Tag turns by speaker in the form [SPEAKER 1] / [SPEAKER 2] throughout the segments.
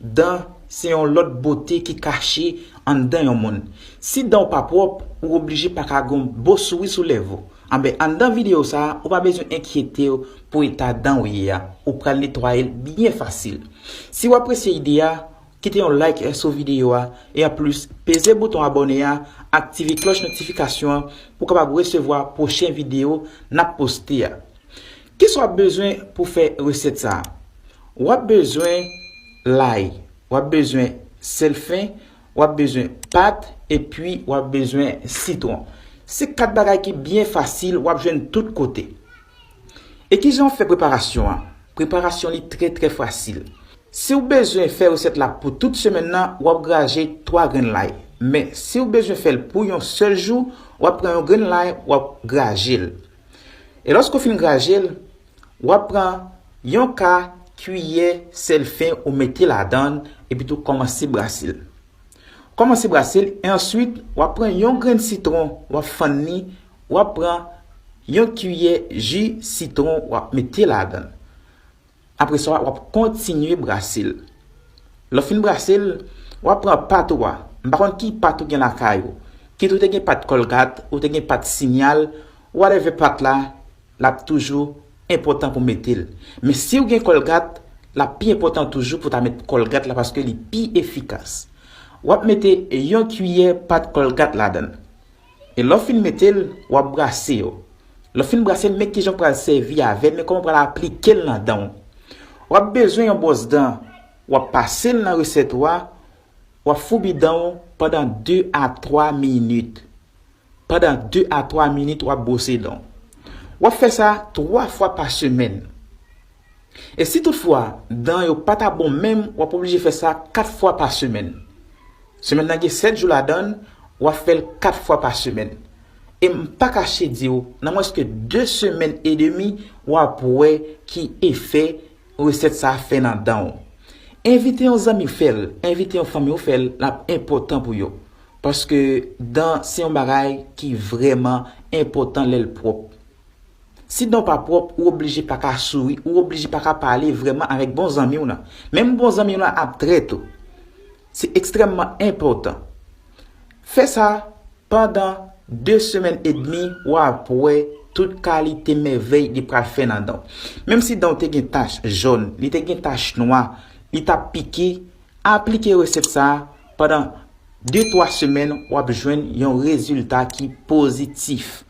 [SPEAKER 1] Dan se yon lòt bote ki kache anndan yon moun. Si dan w pa pwòp, ou oblije pa ka gen yon bo souri sou lèv ou. Anben, anndan videyo sa a, ou pa bezwen enkyete w pou eta dan ou ye a. Ou pral netwaye l byen fasil. Si w apresye ide a, kite yon like sou videyo a, e anplis, peze bouton abòne a, aktive klòch notifikasyon an pou w kapab resevwa pwochen videyo n ap poste a. Kisa w ap bezwen pou w fè resèt sa a? W ap bezwen lay, w ap bezwen sèl fen, w ap bezwen pat epi w ap bezwen sitwon. Se 4 bagay ki byen fasil w ap jwenn tout kote. E kijan w fè preparasyon an? Preparasyon li trè trè fasil. Si w bezwen fè resèt la pou tout semèn nan, w ap graje 3 grenn lay. Men, si w bezwen fè l pou yon sèl jou, w ap pran yon grenn lay, w ap graje l. E lòske w fin graje l, w ap pran yon ka kiyè sèl fen ou mete ladan l epitou kòmanse brase l. Ou kòmanse brase l e answit w ap pran yon grenn sitwon w ap fann li, w ap pran yon kiyè ji sitwon w ap mete ladan l. Apre sa, w ap kontinye brase l. Lè w fin brase l, w ap pran pat ou a. M pa konn ki pat ou gen lakay ou. Kit ou te gen pat Colgate, ou te gen pat Signal, whatever pat la, l ap toujou enpòtan pou mete l. Men si ou gen Colgate, l ap pi enpòtan toujou pou ta met Colgate la paske li pi efikas. W ap mete yon kiyè pat Colgate ladan l. E lè w fin mete l, w ap brase yo. Lè w fin brase l, men kijan w pral sèvi avè l, men kòman w pral aplike l nan dan w. W ap bezwen yon bwòs dan, w ap pase l nan resèt ou a, w ap foubi dan w pandan 2 a 3 minit. Pandan 2 a 3 minit w ap bwose dan w. W ap fè sa 3 fwa pa semèn. E si tout fwa dan yo pa ta bon menm wap oblije fè sa 4 fwa pa semèn. Semèn nan gen 7 jou ladann wap fèl 4 fwa pa semèn. E m pa kache diw nan mwens ke 2 semèn e demi wap wè ki efè resèt sa fè nan danw. Envite yon zanmi fèl, envite yon fanmiw fèl lap enpòtan pou yo. Paske dan se yon bagay ki vrèman enpòtan lèl pwòp. Si danw pa pwòp ou oblije paka souri ou oblije paka pale vrèman avèk bon zanmiw lan. Menm bon zanmiw lan ap trèt ou. Se ekstrèmman enpòtan. Fè sa pandan 2 semèn edmi wap wè tout kalite mèvèy li pral fè nan danw. Menm si danw te gen tach jòn, li te gen tach nwa, li tap pike, aplike resèt sa pandan 2 twa semèn wap jwenn yon rezilta ki pozitif.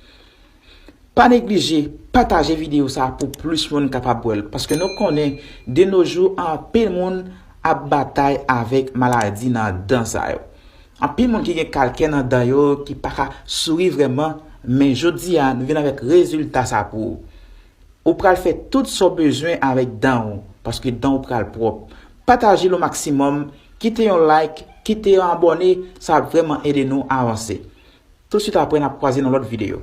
[SPEAKER 1] Pa neglije pataje video sa pou plis moun kapab wèl paske nou konnen de no jou anpil moun ap batay avèk maladi nan dan sa yo. Anpil moun ki gen kalkè nan dan yo ki paka souri vrèman men jodi a nou vin avèk rezilta sa pou ou. Ou pral fè tout sa w bezwen avèk dan ou paske dan ou pral pwòp. Patajel o maksimòm, kite yon like, kite yon abòne sa ap vrèman ede nou avanse. Tout swit aprè nap kwaze nan lòt video.